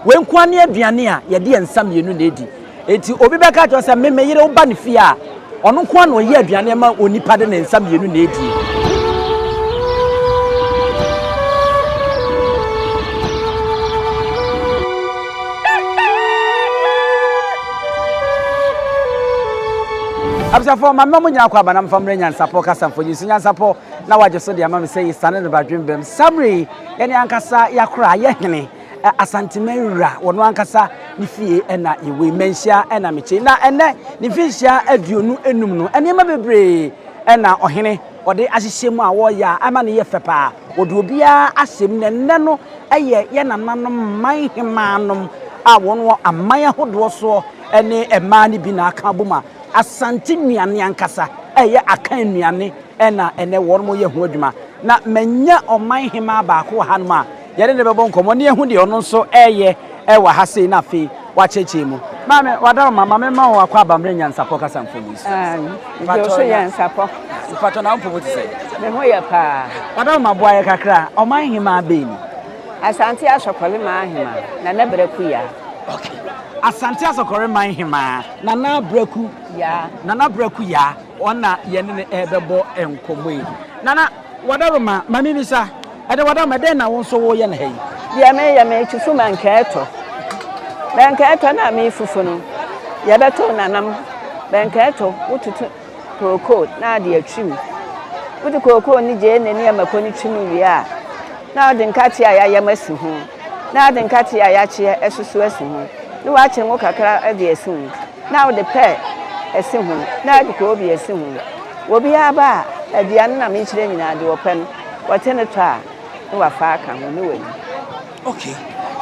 Wei nko ara ne aduane a yɛde yɛn nsa mmienu na edi. Enti obi bɛka akyerɛ wo sɛ, Me, me yere woba ne fie a, ɔno nko ara na ɔyɛ aduane ma onipa de ne nsa mmienu na edie. Abusuafoɔ, ma mma mo nyinaa kɔ aba na mfa mmerɛ nyansapɔ kasamfoɔ nyi nso nyansapɔ na wagye so de ama me sɛ yɛsane no badwembam. Samere yi, yɛne ankasa yɛakora, yɛhene. Asanteman wura, wɔn ankasa ne fie na yɛwɔ yi, Manhyia na mete. Na ɛnnɛ, ne mfinhyia aduonu enum no, nneɛma bebree na ɔhene ɔde ahyehyɛ mu a wɔreyɛ a ama no yɛ fɛ paa. Wɔde obiara ahyɛ mu, na ɛnnɛ no yɛ yɛn nananom man hemaa nom a wɔn wɔ aman ahodoɔ soɔ ne mmaa no bi na aka abɔ mu a Asante nnuane ankasa a ɛyɛ Akan nnuane na ɛnnɛ wɔn yɛ ho adwuma. Na manya ɔman hemaa baako wɔ hanom a Yɛne no bɛbɔ nkɔmmɔ na yɛahu deɛ ɔno nso reyɛ wɔ ha sei na afei wakyerɛkyerɛ mu. Maame, wada wo ma, ma memma wo akwaabammerɛ nyansapɔ kasa mfoni so. Gye wo so nyansapɔ. Mpakyɛ na wo mpobo te sɛn? Me ho yɛ paa. Wada wo ma, boa yɛ kakra, ɔman hemaa bɛn ni? Asante Asɔkɔre man hemaa, Nana Braku Yaa. Ok. Asante Asɔkɔre man hemaa, Nana Braku Yaa. Nana Braku Yaa, ɔno na yɛne no rebɛbɔ nkɔmmɔ yi. Nana, wada wo ma, ma memmisa. Ɛde wɔ dam, ɛdɛn na wo nso wo yɛ no ha yi? Deɛ me yɛ me kyi so ma nkɛɛtɔ, bɛnkɛɛtɔ na me fufu no yɛ bɛ to nanam, bɛnkɛɛtɔ wo tutu kooko na ade atwi mu, wo de kooko ne gyeene ne ɛmako no twi mu wie a na wo de nkate a yayam asi ho na wo de nkate a yakyeɛ ɛsoso asi ho ne wakye ngo kakra de asi ho na wo de pɛ asi ho na de koobi asi ho, wɔ biara ba a aduane na me kyerɛ nyinaa deɛ ɔpɛ no. Wɔte no tɔ a, ne wafa aka ho, ne wani. Okay.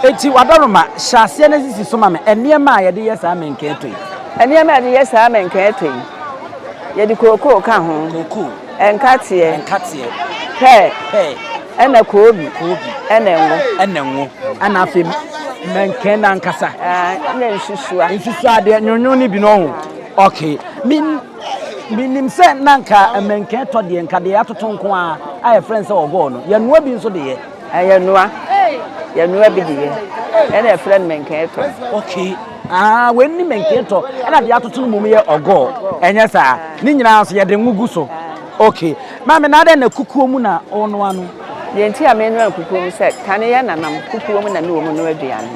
Enti w'adɔroma, hyɛ aseɛ na sisi so ma me nneɛma a yɛde yɛ saa mɛnkɛn tɔ yi. Nneɛma a yɛde yɛ saa mɛnkɛn tɔ yi, yɛde kookoo ka ho. Kookoo. Nkateɛ. Nkateɛ. Pɛ. Pɛ. Ɛna koobi. Koobi. Ɛna ngo. Ɛna ngo. Ɛna afei mɛnkɛn no ankasa. Ɛna nsusua. Nsusuadeɛ, nwonwon no bi no ho. Okay. Min. Menim sɛ na anka mmɛnka ɛtɔ deɛ, nka deɛ yɛatoto nko ara a yɛfrɛ no sɛ ɔgɔɔ no. Yɛnoa bi nso de yɛ. Ɛ, yɛnoa. Yɛnoa bi de yɛ. Ɛna yɛfrɛ no mmɛnka ɛtɔ. Okay. Ahaa, wei ne mmɛnka ɛtɔ, ɛna deɛ yɛatoto no mmom yɛ ɔgɔɔ. Ɛnyɛ saa? Ne nyinaa nso yɛde ngo gu so. Ok maame na adɛn na kukuo mu na wo noa no. Deɛ nti a menoa no kukuo mu sɛ kane yɛ nanam kukuo mu na me wɔ mu noa aduane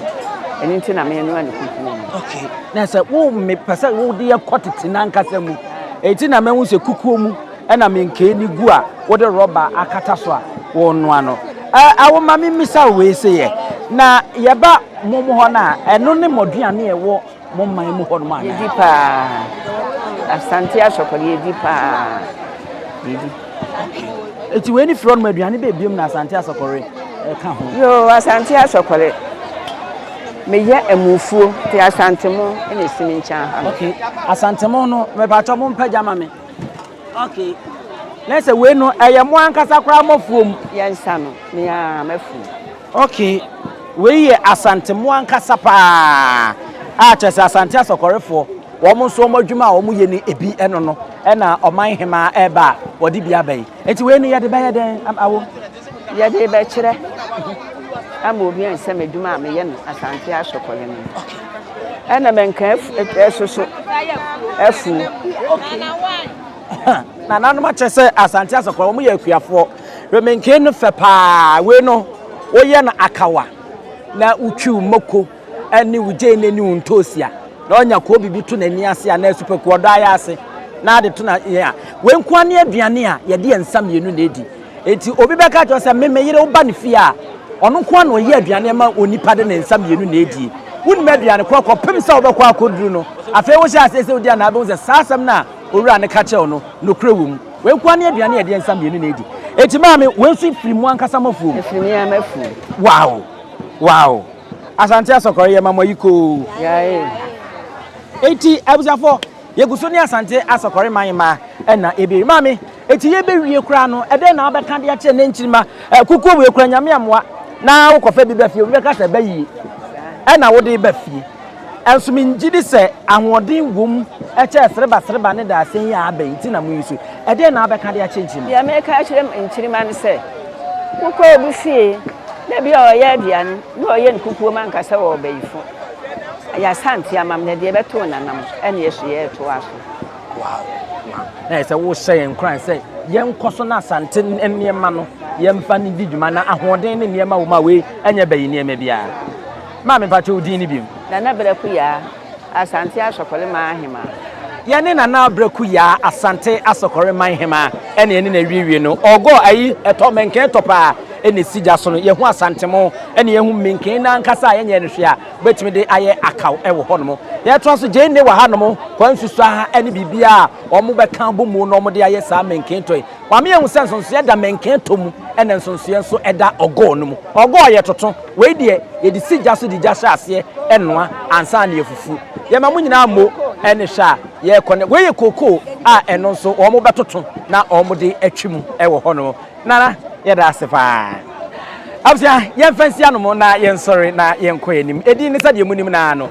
ɛno nti na menoa no kukuo mu. Ok na sɛ wo me pɛ sɛ wo de yɛ kɔ tete nankasa mu ɛti na mɛhu sɛ kukuo mu ɛna me nkee ne gu a wo de rɔba akata so a wo noa no ɛɛ wo ma me misa wo wei sɛ yɛ na yɛba mo mo hɔ no a ɛno ne mo aduane a ɛwɔ mo man mu hɔ nom anaa? Yɛdi paa. Asante asɔkɔde yɛdi paa. Yɛdi. Eti wei ne firi hɔnom aduane bɛ ebiem na asante asɔkɔre ɛka ho. Yoo asante asɔkɔre. Meyɛ amufuo te asantemo ɛna esimi nkyɛn ha. Okay. Asantemo no mɛpatwa mo mpagya ma me. Okay na sɛ wei no ɛyɛ mo ankasa koraa mo afuom. Yɛn nsa no me aa m'afuom. Okay wei yɛ Asante mo ankasa paa a kyerɛ sɛ Asante Asɔkɔrefoɔ wɔn nso wɔn adwuma a wɔn yɛ no ebi ɛno no ɛna Ɔman Hemaa ɛɛba a wɔde bi aba yi nti wei no yɛde bɛyɛ dɛn awo. yɛde rebɛkyerɛ ama obi a nsɛm adwuma a meyɛ no asante asɔkɔyɛ no ɛna mɛnka ɛsoso afu nananom akyerɛ sɛ asante asɔkɔyɛ wɔn yɛ akuafoɔ remenke no fɛ paa wei no woyɛ no akawa na wotwiw mako ɛne wo gyeene ne wo ntoosi a, na ɔnya kɔɔ biribi to n'ani ase anaa supaku ɔdɔ ayɛ ase na ade to na yɛn a, wei nko ara ne aduane a yɛde yɛn nsa mmienu na edi. Enti obi bɛka akyerɛ sɛ, me me yere woba ne fie a, ɔno nko ara na ɔyɛ aduane ma onipa de ne nsa mmienu na edie. Wonnim aduane korɔ kɔpem sɛ wobɛkɔ akɔduru no. Afei wohyɛ aseɛ sɛ wodi a na wobɛhu sɛ saa asɛm no a owura no ka kyerɛ wo no, nokorɛ wɔ mu. Wei nko ara ne aduane a yɛde yɛn nsa mmienu na edi. Enti maame, wei nso firi mo ankasa mo afuom. Ɛfiri me ara m'afuom. Wow! Wow! Asante Asɔkɔre yɛ ma mo ayi koo. Eti abusuafo yɛgu so ne Asante Asɔkɔre man ma ɛna ebiri. Maame, eti yɛbɛwie koraa no, ɛdɛn na wobɛka de akyerɛ ne nkyirima? Kukuo wei koraa nyame amoa na wokɔfa bi ba fie, obi bɛka sɛ ɛbɛ yie ɛna wode ba fie. Nso migye di sɛ ahoɔden wom kyɛn serebasereba ne dadesɛn yi a aba yi nti na muyi so. Ɛdeɛn na wobɛka de akyerɛ nkyirimma? Deɛ mɛka akyerɛ nkyirimma ne sɛ, wokɔ obi fie na ebi a ɔreyɛ aduane na ɔreyɛ no kukuo ma nka sɛ ɔwɔ bayifo. Ɛyɛ Asante ama me na deɛ ɛbɛto wo nanam ɛne ɛso yɛ ɛtoa so. Wow, wow. Na ayɛ sɛ wohyɛ yɛn nkuran sɛ yɛnkɔ so na Asante nneɛma no yɛmfa no di dwuma na ahoɔden ne nneɛma wɔ mu a wei ɛnyɛ bayi nneɛma biara. Maame mpakyɛ wo din ne biom. Nana Braku Yaa, Asante Asɔkɔre man Ahemaa. Yɛne Nana Braku Yaa, Asante Asɔkɔre man Hemaa ɛne ɛne na ɛwiewie no. Ɔgɔ ayi ɛtɔ mɛnken ɛtɔ paa ɛna ɛsi gya so no. Yɛhu Asantemo ɛne yɛhu menken no ankasa a yɛnyɛɛ no hwee a wobɛtumi de ayɛ akaw ɛwɔ hɔ nom. Yɛtoa so Gyeene wɔ ha nom, Kwansu so ha ɛne biribiara a wɔn bɛka abɔ mu no wɔn de ayɛ saa mɛnken tɔ yi. Wama yɛahu sɛ nsonsoeɛ da mɛnkɛn tɔ mu ɛna nsonsoeɛ nso da ɔgɔɔ no mu. Ɔgɔɔ yɛ toto, wei deɛ yɛde si gya so de gya hyɛ aseɛ noa ansa na yɛfufu. Yɛma mo nyinaa mmo ne hwɛ a yɛrekɔ nnɛ. Wei yɛ kookoo a ɛno nso wɔbɛtoto na wɔde atwi mu wɔ hɔnom. Nana, yɛda ase pa ara. Abusua, yɛmfa nsi anom na yɛnsɔre na yɛnkɔ yɛn anim. Edin no sɛdeɛ monim no ara no.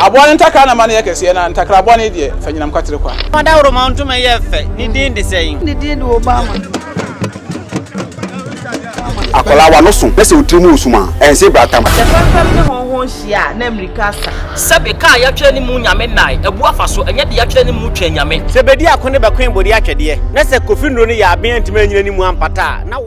Aboa no ntakra na ma no yɛ kɛseɛ, na ntakra bɔne deɛ, fa nyinam kwatere kwa. Fa dawuroma ntoma yɛ fɛ, ne din de sɛn? Ne din de Obama. Akwadaa w'ano so na sɛ wo tiri mu resum a, ɛnse brata ma. Sɛ fɛmfɛm ne hɔnhɔn hyia a, na mmirika asa. Sɛbe kaa a yɛatwerɛ ne mu Nyame nnae, abu afa so, ɛnyɛ de yɛatwerɛ ne mu Twɛn Nyame. Sɛ bɛdi ako ne bɛkoe bɔdi atwɛdeɛ, na sɛ Kofi Nnuro no yɛ aben antumi anyini ne mu ampata a, na wo.